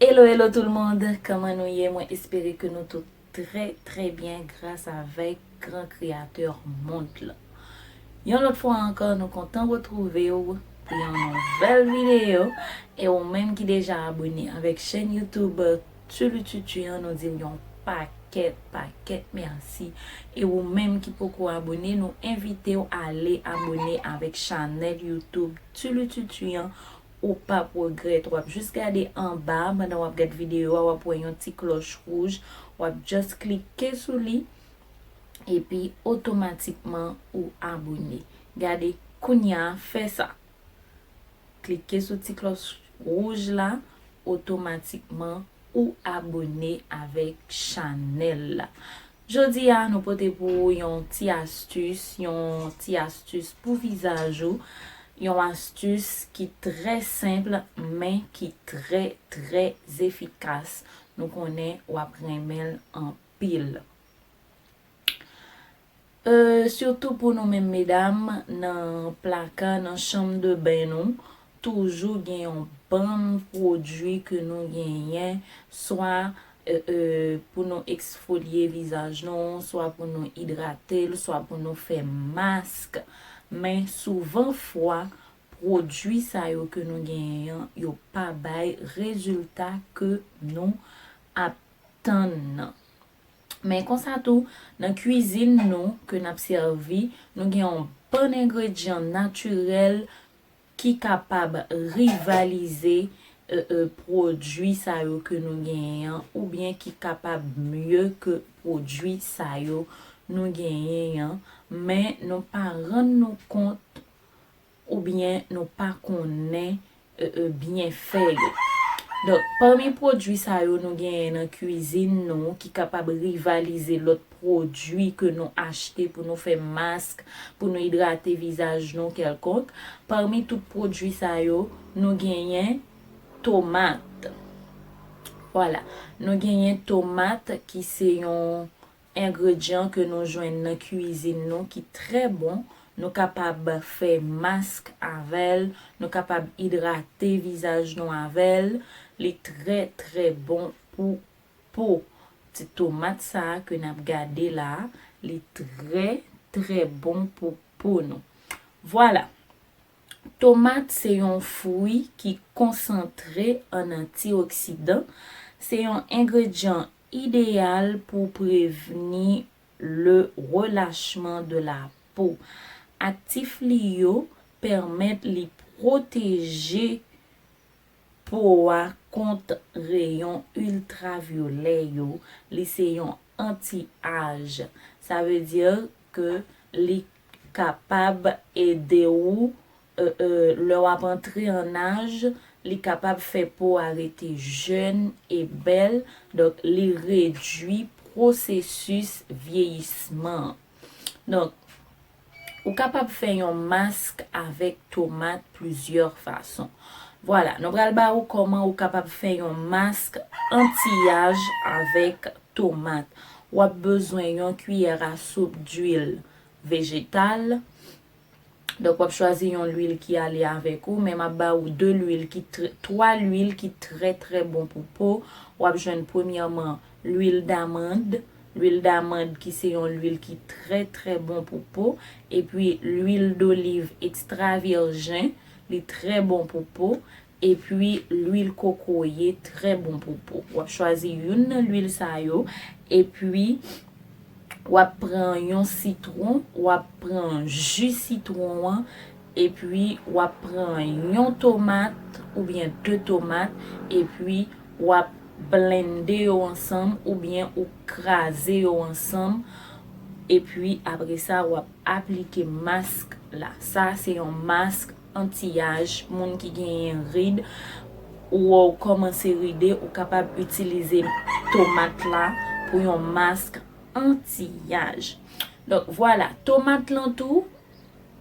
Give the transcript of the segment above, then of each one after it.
Hello hello tout le monde kman nou ye mwen espere ke nou tout trè trè byen gras avèk gran kreateur mond lan yon lòt fwa ankò nou kontan retrouve w pou yon nouvèl video e ou menm ki deja abone avèk chèn youtube Tu lu tu tu an nou dil yon pakèt pakèt merci e ou menm ki poko abone nou envitew ale abone avèk chanèl YouTube tu lu tu tu an ou pap regrèt wap jus gade anba pandan wap gad video a wap wè yon ti klòch rouj wap just klike sou li epi otomatikman ou abone gade kounya fè sa. Klike sou ti klòch wouj la otomatikman ou abone avèk chanèl la. Jodi a nou pote pou ou yon ti astis, yon ti astis pou vizaj ou, yon astis ki trè senpl men ki trè trè efikas. Nou konnen wap renmenl anpil. Euh surtout pou nou menm medam nan plaka nan chanm de bain nou toujou gen yon bann pwodwi ke nou genyen swa euh pou nou eksfolye vizaj nou swa pou nou idratel swa pou nou fè mask men souvan fwa pwodwi sa yo ke nou genyen an yo pa bay rezilta ke nou ap tann nan Men konsa tou, nan kwizin nou ke n ap sèvi, nou gen yon bann engredyan natirèl ki kapab rivalize pwodui sa yo ke nou genyen an oubyen ki kapab mye ke pwodui sa yo nou genyen an, men nou pa rann nou kont Ou byen nou pa konnen byen fè yo. Donk pami pwodwi sa yo nou genyen nan kwizin nou ki kapab rivalize lòt pwodwi ke nou achte pou nou fè mask, pou nou idrate vizaj nou kèlkonk, pami tout pwodwi sa yo nou genyen tomat. Vwala, nou genyen tomat ki se yon Engredyan ke nou jwenn nan kuizin nou ki trè bon, nou kapab fè mask avèl, nou kapab idrate vizaj nou avèl, li trè trè bon pou po. Ti tomat sa ke nap gade la, li trè trè bon pou po nou. Vwala! Tomat se yon fwi ki konsantre an antioksidan, se yon engredyan Ideyal pou prevni le relachman de la po. Aktif li yo pèmèt li pwoteje po a kont reyon iltravyolè yo, li se yon anti-aj. Sa vle di ke li kapab ede ou Ee lè w ap antre an aj li kapab fè po a rete jèn e bèl donk li redui pwosesis vyeyisman an. Donk ou kapab fè yon mask avèk tomat plizyè fason. Vwala nou pral ba ou kòman ou kapab fè yon mask antiyaj avèk tomat. W ap bezwen yon kiyè a soup duil vejetal, Donk wap chwazi yon lwil ki ale avèk ou men map ba ou 2 lwil ki 3 lwil ki trè trè bon pou po wap jwenn premyèman lwil damand lwil damand ki se yon lwil ki trè trè bon pou po epi lwil doliv ekstra vèjen li trè bon pou po Epi lwil kokoye trè bon pou po. Wap chwazi youn nan lwil sa yo epi wap pran yon sitron, wap pran ji sitron an epi wap pran yon tomat oubyen 2 tomat epi wap blende yo ansanm oubyen ou kraze yo ansanm epi apresa wap aplike mask la. Sa se yon mask Antiyaj, moun ki genyen rid, wè w kòmanse ride, ou kapab itilize tomat la pou yon mask antiyaj. Donk vwala, tomat lan tou,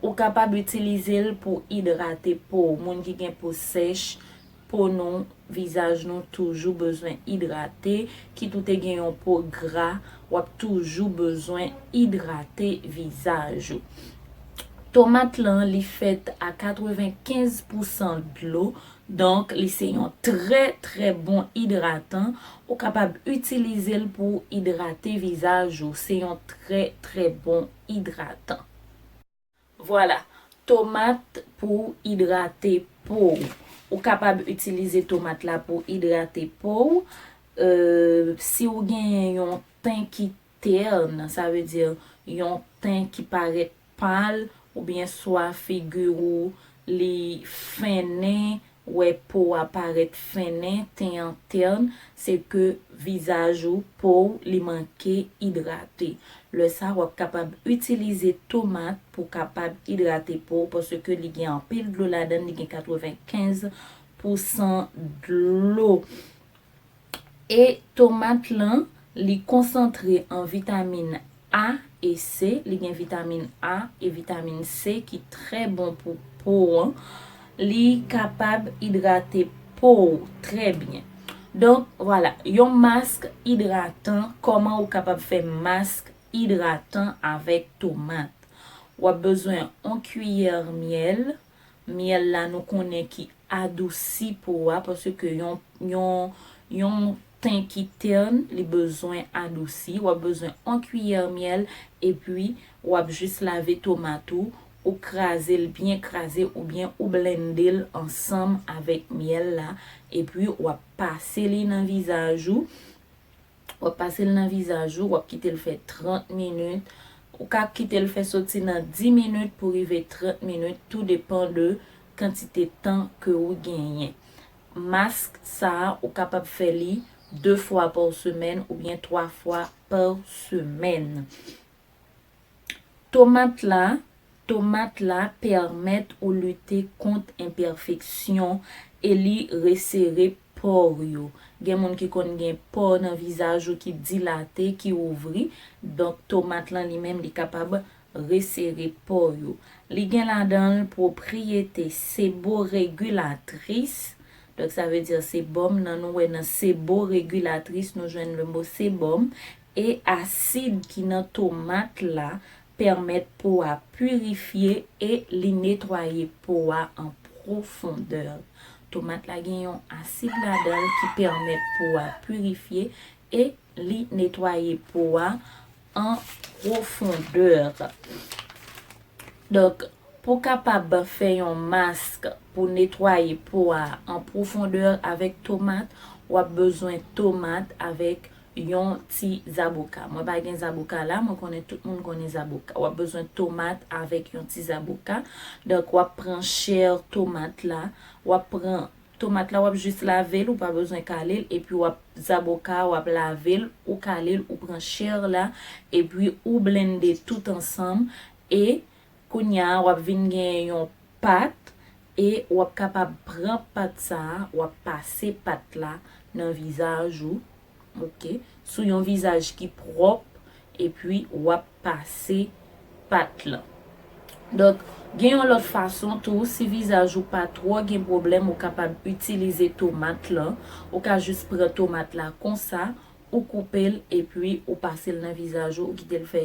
ou kapab itilize l pou idrate po w. Moun ki gen po sèch, po nou, vizaj nou toujou bezwen idrate, kit ou te gen yon po gra wap toujou bezwen idrate vizaj ou. Tomat lan li fèt a 95 pou san dlo donk li se yon trè trè bon idratan ou kapab itilizel pou idrate vizaj ou se yon trè trè bon idratan. Vwala, tomat pou w idrate po w. Ou kapab itilize tomat la pou idrate po w. Si w genyen yon ten ki terne, sa vle di yon ten ki parèt pal, oubyen swa figi ou li fennen, wè po a parèt fennen, ten an tern, se ke vizaj ou, po w, li manke idrate. Lè sa w ap kapab itilize tomat pou w kapab idrate po w paske li gen anpil dlo ladan l, li gen 95 pousan dlo. E tomat lan li konsantre an vitamin A e C, li gen vitamin A e vitamin C ki trè bon pou po an, li kapab idrate po ou trè byen. Donk vwala, yon mask idratan, kòman ou kapab fè mask idratan avèk tomat. Wap bezwen on kiyè myèl. Myèl la nou konnen ki adousi po a paske yon ten ki tern li bezwen adousi. W ap bezwen yon kiyè myèl epi w ap jis lave tomat ou, ou kraze l byen kraze oubyen ou blennde l ansanm avèk myèl la epi w ap pase li nan vizaj ou. Wap pasel nan vizaj ou, wap kitel fè 30 minit, ou ka kitel fè soti nan 10 minit pou rive 30 minit tou depan de kantite tan ke ou genyen. Mask sa ou kapab fè li 2 fwa pa w semèn oubyen 3 fwa pa w semèn. Tomat la Tomat la pèmèt ou lite kont enpèfeksyon e li resere pò w yo. Gen moun ki konn gen pò nan vizaj ou ki dilate, ki ouvri, donk tomat lan li menm li kapab resere pò yo. Li gen ladan l pwopriyete seboregilatris, donk sa vle di sebòm nan nou wè nan seboregilatris nou jwenn le mo sebòm E asid ki nan tomat la pèmèt po a purifye e li netwaye po a an pwofondè. Tomat la gen yon asid ladan l ki pèmèt po a purifye e li netwaye po a an pwofondè. Donk, pou kapab fè yon mask pou netwaye po a an pwofondè avèk tomat, w ap bezwen tomat avèk Yon ti zaboka. Mwen pa gen zaboka la, mwen konnen tout moun konnen zaboka. Wap bezwen tomat avèk yon ti zaboka. Donk wap pran chè tomat la, wap pran tomat la wap jis lavel ou pa bezwen kalel epi wap zaboka wap lavel ou kalel ou pran chè la epi ou blende tout ansanm e Kounya wap vin gen yon pat e wap kapab pran pat sa wap pase pat la nan vizaj ou ok sou yon vizaj ki pwòp epi wap pase pat lan donk gen yon lòt fason tou si vizaj ou pa twò gen pwoblèm ou kapab itilize tomat lan ou ka jis pran tomat la konsa ou koupel epi ou pasel nan vizaj ou ou kitel fè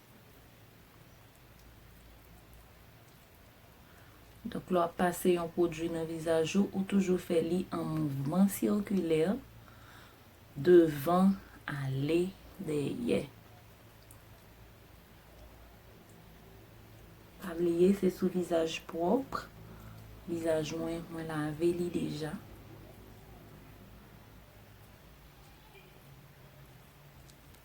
Donk lè w ap pase yon pwodui nan vizaj ou, ou toujou fè li an mouvman sikilè, devan ale dèyè. Pa bliye se sou vizaj pwòp, vizaj mwen, mwen lave li deja.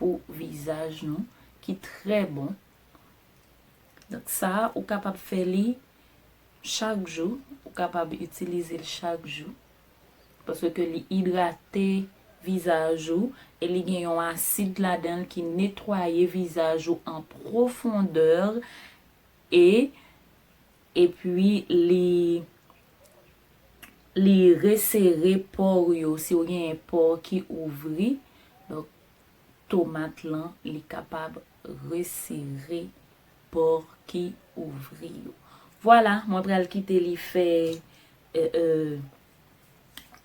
pou vizaj nou ki trè bon donk sa ou kapab fè li chak jou ou kapab itilize l chak jou paske ke li idrate vizaj ou e li gen yon asid ladan l ki netwaye vizaj ou an profondeur e Epi li li resere pore yo si ou genyen pore ki ouvri donk tomat lan li kapab resere pore ki ouvri yo vwala mwen pral kite li fè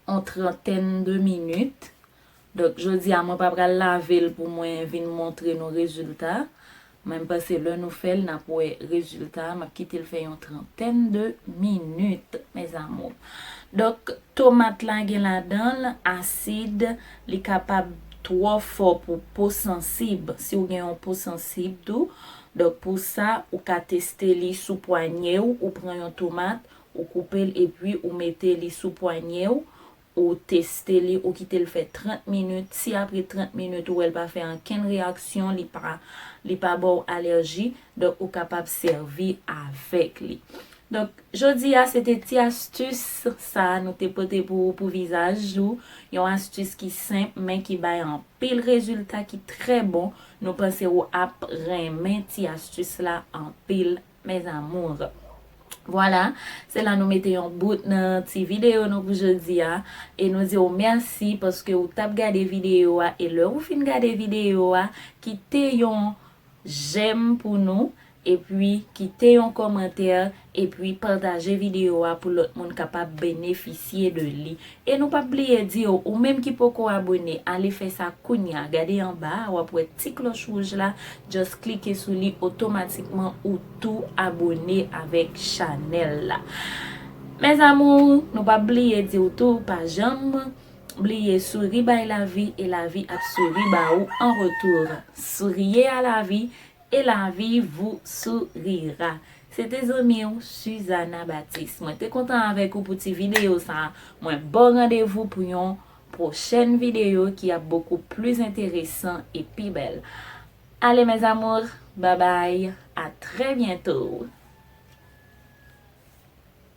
on trentaine de minutes donk jodi a mwen pa pral lavel pou mwen vin montre nou rezilta men m panse lè nou fèl nap wè rezilta a map kitel fè yon trentaine de minutes mes amours donk tomat la gen ladanl asid li kapab twò fò pou po sansib si w gen yon po sansib tou donk pou sa ou ka teste li sou pwanyew ou pran yon tomat Ou koupe l epi ou mete li sou pwanye w, ou teste li, ou kite l fè 30 minit, si apre 30 minit ou wè l pa fè ankenn reyaksyon, li pa li pa ba w alèji, donk ou kapab sèvi avèk li. Donk, jodi a se te ti astis sa a nou te pote pou ou pou vizaj ou, yon astis ki senp men ki bay anpil rezilta ki trè bon, nou panse ou ap renmen ti astis la anpil. Mes amours. Voilà, se la nou mete yon bout nan ti video nou pou jodi a. E nou di w mèsi paske ou tap gade video a e lè ou fin gade video a, kite yon jèm pou nou, epi kite yon kòmantè, epi pataje video a pou lòt moun kapab benefisye de li. E nou pap bliye di yo ou menm ki poko abone ale fè sa kounya gade anba a wap wè ti klòch wouj la just klike sou li otomatikman ou tou abone avèk chanèl la mes amours nou pap bliye diw tou pa janm bliye souri bay lavi e lavi ap souri ba ou an retour souriez à la vie Et la vie vous sourira Se te zanmi w Suzana Baptiste Mwen te kontan avèk ou pou ti video sa Mwen baw randevou pou yon Pwochèn video ki ap bokou plis enteresan e pi bèl Allez mes amours Babay a trè byento.